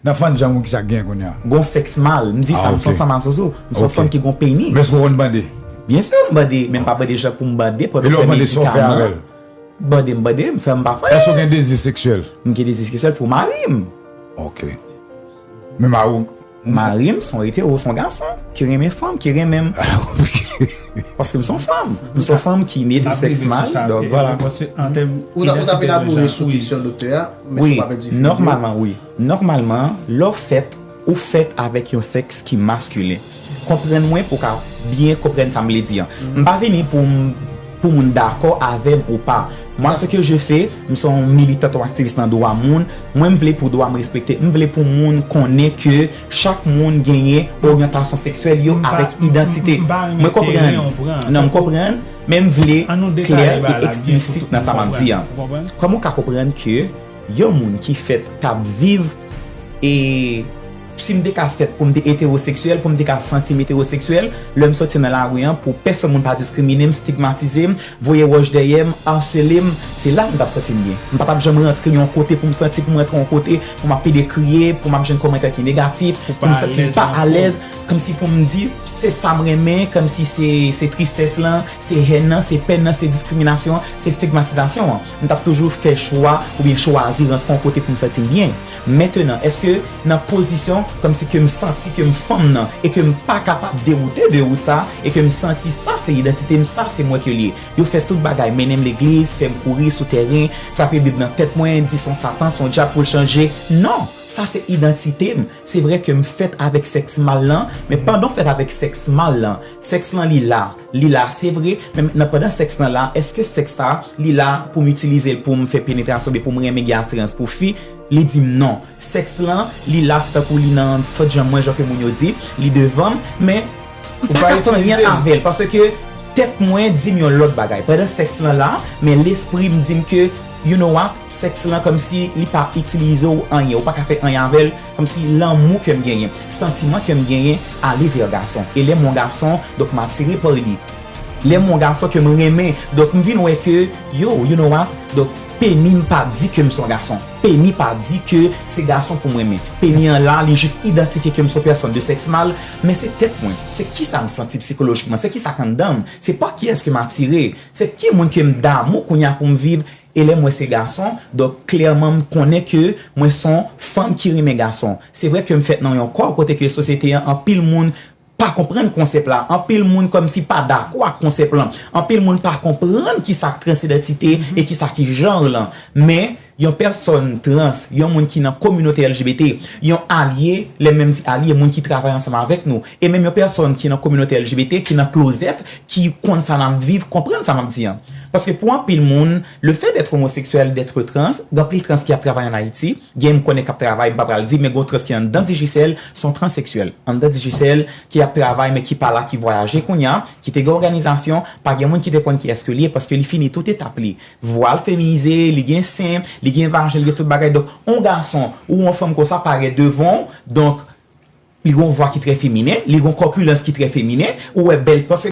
Nap fann janm wi kisa gen kounya. Gon sex mal, m di sa, m son fanm a zozo, m son fanm ki gon peni. Men eske ou konn bande? Byen sur m bande, men m pa bande jan pou m bande pou yo fè medikaman. Bande m bande, m fè m pa fè. Eske ou gen dezi seksyèl? M gen dezi seksyèl pou mari m. Ok. Men mari w. Mari m son etero, son gason ki renmen fanm, ki renmen m. Paske m son fanm. M son fanm ki ne de sex mal. Ou ta fin ap mouri sou kesyon doktè a. Wi, nòmalman wi. Nòmalman, lè w fèt, ou fèt avèk yon sèks ki maskilen. Konprann mwen pou w ka byen konprann sa m vle di an. M pa vini pou m pou moun dakò avè m ou pa. Mwa se ke je fè, m se yon militant, yon aktivis nan dwa moun. Mwen m vle pou dwa m respekte. M vle pou moun konnen ke chak moun genyen oryantasyon seksyèl yo avèk idantite. Mwen konprann. Non, m konprann. Men m vle klè e eksplisit nan sa m ap di an. Kòman ou ka konprann ke yon moun ki fèt, k ap viv e si m te ka fèt pou m te etewoseksyèl, pou m te ka santi m etewoseksyèl, lè m soti nan lari an pou pèsonn moun pa diskrimine m, stigmatize m, voye wòch dèyè m, arsele m, se la m t ap santi m byen. M pa t ap janm rantre yon kote pou m santi pou m rantre yon kote pou m ap pede kriye, pou m ap jwenn kòmantè ki negatif, pou m santi m pa alèz. Kmsi pou m di, se sa m renmen, kmsi se tristès lan, se hèn nan, se pèn nan, se diskriminasyon an, se stigmatizasyon an. M t ap toujou fè chwa oubyen chwazi rantre yon kote pou m santi m byen. Mentenan, èske nan pozisyon kmsi ke m santi ke m fanm nan e ke m pa kapab dewoute de wout sa e ke m santi sa se idantite m, sa se mwen ke l ye. Yo fè tout bagay, mennen m legliz, fè m kouri sou tèren, frape bib nan tèt mwen, di s on satan, s on dyab pou l chanje. Non! Sa se idantite m. Se vre ke m fèt avèk sèks mal lan, men pandan w fèt avèk sèks mal lan, sèks lan li la, li la se vre, men mentnan pandan sèks lan la, èske sèks sa a, li la pou m itilize l pou m fè penetrasyon oubyen pou m renmen gen atirans pou fi? Li di m non. Sèks lan, li la se tankou li nan fèt jan mwen, jan ke moun yo di, li devan m, men. M pa ka fè anyen avèl paske tèt mwen dim yon lòt bagay pandan sèks lan la men lespri m dim ke you know what sèks lan kòmsi li pa itilize w anyen ou pa ka fè anyen avèl kòmsi lanmou ke m genyen santiman ke m genyen ale vè gason e lè m yon gason donk m atire pa li lè m yon gason ke m renmen donk m vin wè ke yo you know what donk peni m pa di ke m son gason peni pa di ke se gason pou m renmen peni an la li jis idantifye ke m son pèsòn de sèks mal Men se tèt mwen, se kisa m santi psikolojikman, se kisa k anndan m, se pa kiyès ke m atire, se ki moun ke m damou kounye a pou m viv, e lè m wè se gason, donk klèman m konnen ke mwen s on fanm ki renmen gason. Se vre ke m fèt nan yon kò kote ke sosyete an anpil moun pa konprann konsèp la, anpil moun kòmsi pa dakò ak konsèp lan, anpil moun pa konprann kisa k transidantite e kisa ki janr lan, men. yon pèsòn trans, yon moun ki nan kominote LGBT, yon alye, lè m menm di alye, moun ki travay ansanm avèk nou, e menm yon pèsòn ki nan kominote LGBT, ki nan klozèt, ki konn sa n ap viv, konprann sa m ap di an. Paske pou anpil moun, lefè dètre omoseksyèl, dètre trans, gen anpil trans ki ap travay ann Ayiti, gen m konnen k ap travay, m pa pral di, men gen yon trans ki anndan Digicel, se yon transeksyèl, anndan Digicel, ki ap travay men ki pa la, ki vwayaje kounye a, ki te gen òganizasyon, pa gen moun ki te konn kiyès ke li ye, paske li fini tout etap li, Vwa l feminize, li gen sen, li gen vajen, li gen tout bagay. Donk, yon gason ou yon fanm konsa parèt devan w, donk, li gen yon vwa ki trè feminen, li gen yon kòpilans ki trè feminen, ou wè bèl, paske.